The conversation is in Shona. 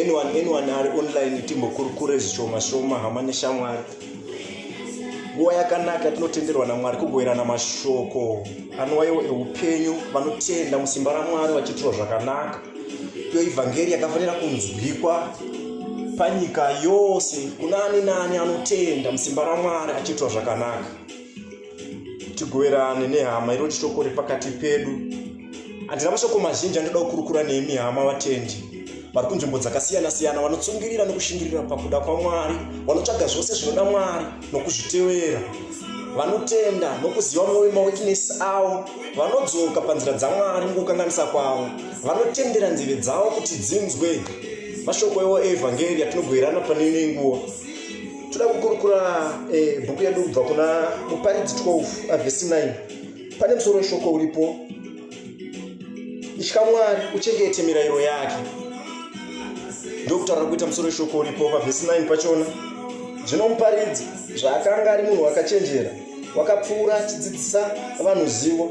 anyone anyone ari online timbokurukure zvishoma shoma hama neshamwari nguva yakanaka tinotenderwa namwari kugoverana mashoko anowaiwo eupenyu vanotenda musimba ramwari vachiitirwa zvakanaka iyo ivhangeri yakafanira kunzwikwa panyika yose kuna ani naani anotenda musimba ramwari achiitirwa zvakanaka tigoverane nehama iro chitoko repakati pedu handina mashoko mazhinji andoda kukurukura nemi hama vatendi vari kunzvimbo dzakasiyana-siyana vanotsungirira nekushingirira pakuda kwamwari vanotsvaga zvose zvinoda mwari nokuzvitevera vanotenda nokuziva mwoyo mawekinesi avo vanodzoka panzira dzamwari mukukanganisa kwavo vanotendera nzeve dzavo kuti dzinzwe mashoko evo eevhangeri atinogoerana pane imwe nguva toda kukurukura eh, bhuku yedu kubva kuna muparidzi 12 avhesi 9 pane musoro weshoko uripo itya mwari uchengete mirayiro yake ndokutaura kuita musoro weshoko uripo pavhesi 9 pachona zvino muparidzi zvaakanga ari munhu wakachenjera wakapfuura achidzidzisa vanhu zivo